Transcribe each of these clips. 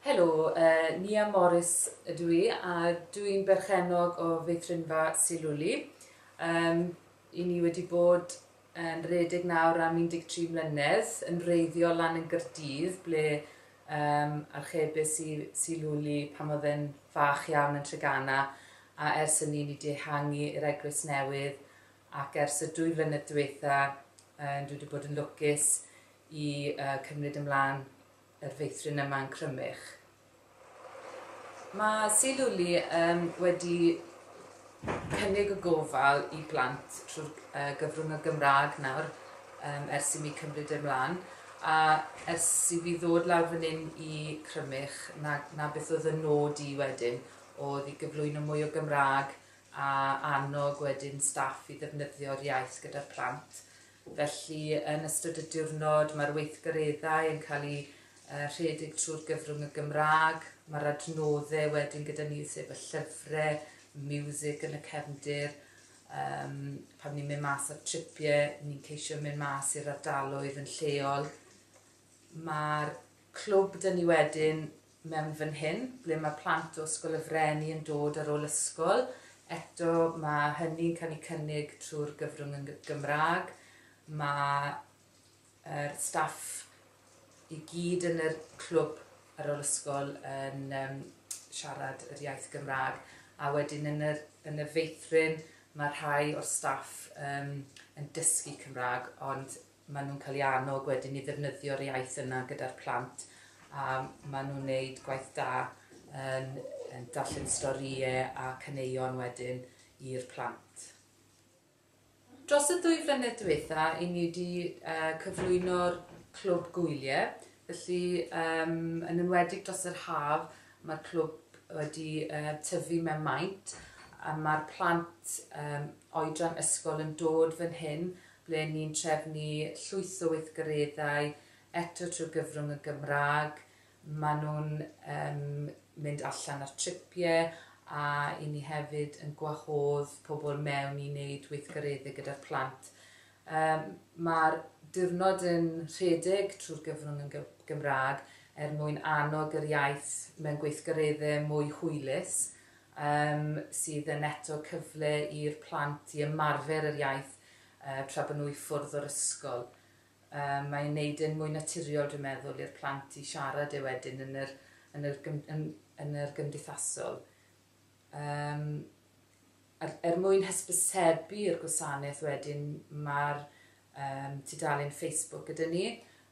Helo, Nia Morris ydw i a dw i'n berchennog o feithrinfa Sir Lwli. Yym, i ni wedi bod yn redeg nawr am 13 mlynedd, yn wreiddiol lan yn Gaerdydd ble yym archebus i Sir Lwli pan oedd e'n fach iawn yn Treganna a ers hynny ni 'di ehangu i'r eglwys newydd ac ers y dwy flynedd diwetha' yy dwi wedi bod yn lwcus i cymryd ymlaen yr feithrin yma yn Crymych. Mae Sir Lwli um, wedi cynnig y gofal i blant trwy'r uh, gyfrwng y Gymraeg nawr um, ers i mi cymryd ymlaen a ers i fi ddod lawr fan hyn i Crymych na, na beth oedd y nod i wedyn oedd i gyflwyno mwy o Gymraeg a annog wedyn staff i ddefnyddio'r iaith gyda'r plant. Felly, yn ystod y diwrnod, mae'r weithgareddau yn cael eu rhedeg trwy'r gyfrwng y Gymraeg. Mae'r adnoddau wedyn gyda ni, sef y llyfrau, y miwsig yn y cefndir. Um, pan ni'n mynd mas ar tripiau, ni'n ceisio mynd mas i'r ardaloedd yn lleol. Mae'r clwb dyn ni wedyn mewn fan hyn, ble mae plant o Ysgol y Freni yn dod ar ôl ysgol, eto mae hynny'n cael ei cynnig trwy'r gyfrwng yn Gymraeg, mae'r staff i gyd yn yr clwb ar ôl ysgol yn um, siarad yr iaith Gymraeg, a wedyn yn, yr, yn y feithrin mae rhai o'r staff um, yn dysgu Cymraeg, ond Maen nhw'n cael eu annog wedyn i ddefnyddio'r iaith yna gyda'r plant a maen nhw'n wneud gwaith da yn darllen storïau a caneuon wedyn i'r plant. Dros y ddwy flynedd diwetha, i ni wedi cyflwyno'r clwb gwyliau, felly yn enwedig dros yr haf mae'r clwb wedi tyfu mewn maint a mae'r plant oedran ysgol yn dod fan hyn ble ni'n trefnu llwyth o weithgareddau eto trwy gyfrwng y Gymraeg. Maen nhw'n yym mynd allan ar tripiau a 'y ni hefyd yn gwahodd pobl mewn i wneud weithgareddau gyda'r plant. Yym ma'r diwrnod yn rhedeg trwy'r gyfrwng yn Gymraeg er mwyn annog yr iaith mewn gweithgareddau mwy hwylus, yym sydd yn eto cyfle i'r plant i ymarfer yr iaith tra bod nhw i ffwrdd o'r ysgol. Mae'n gwneud e'n mwy naturiol, dwi'n meddwl, i'r plant i siarad e wedyn yn yr, yn yr, yn, yn yr gymdeithasol. Um, er, er mwyn hysbysebu'r gwasanaeth wedyn, mae'r um, tudalen Facebook gyda ni.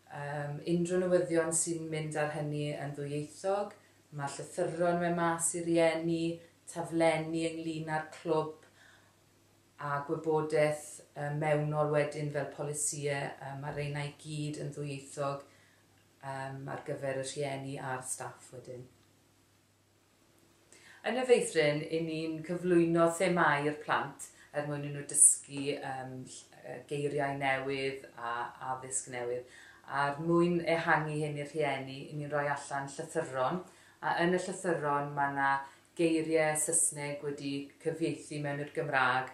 Um, unrhyw newyddion sy'n mynd ar hynny yn ddwyieithog, mae llythyron mewn mas i rieni, taflenni ynglyn â'r clwb, a gwybodaeth mewnol wedyn fel polisïe, mae'r reina i gyd yn ddwyieithog ar gyfer y rhieni a'r staff wedyn. Yn y feithrin, i ni'n cyflwyno themau i'r plant er mwyn i nhw dysgu geiriau newydd a addysg newydd. A'r mwyn ehangu hyn i'r rhieni, i ni'n rhoi allan llythyron, a yn y llythyron mae yna geiriau Saesneg wedi cyfieithu mewn i'r Gymraeg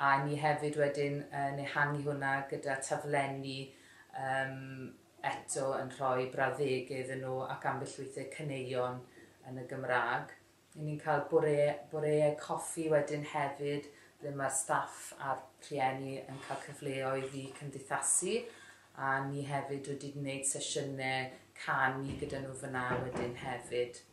a ni hefyd wedyn yn ehangu hwnna gyda taflenni yym eto yn rhoi brawddege iddyn nhw ac ambell weithiau caneuon yn y Gymraeg. Ry'n ni'n cael bore, boreau coffi wedyn hefyd ble mae'r staff a'r rhieni yn cael cyfleoedd i cymdeithasu a ni hefyd wedi gwneud sesiynau canu gyda nhw fyna wedyn hefyd.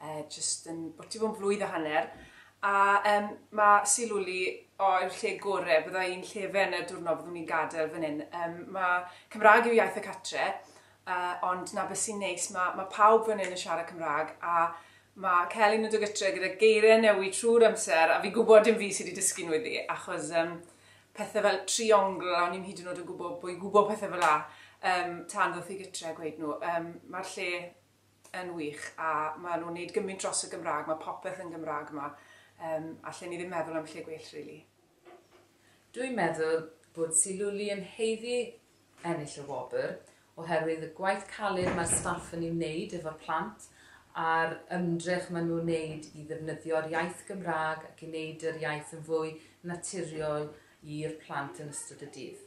e jyst yn bwti fo'n flwydd a hanner, a um, mae Silwli o yw'r lle gore, bydda i'n llefen y diwrnod byddwn i'n gadael fan hyn. Um, mae Cymraeg yw iaith y catre, uh, ond na beth sy'n neis, mae, mae pawb fan hyn yn siarad Cymraeg, a mae Celyn yn dod gytre gyda geiriau newid trwy'r amser, a fi'n gwybod dim fi sydd wedi dysgu nhw iddi, achos um, pethau fel triongl, a ni'n hyd yn oed yn gwybod bod i'n gwybod pethau fel la, um, tan ddoth i gytre a gweud nhw. Um, Mae'r lle yn wych a ma nhw'n neud gymint dros y Gymraeg, ma popeth yn Gymraeg ma, yym allen i ddim meddwl am lle gwell rili. Dwi'n meddwl bod Siluli yn haeddu ennill y wobr oherwydd y gwaith caled mae'r staff yn ei wneud efo'r plant a'r ymdrech maen nhw'n wneud i ddefnyddio'r iaith Gymraeg ac i wneud yr iaith yn fwy naturiol i'r plant yn ystod y dydd.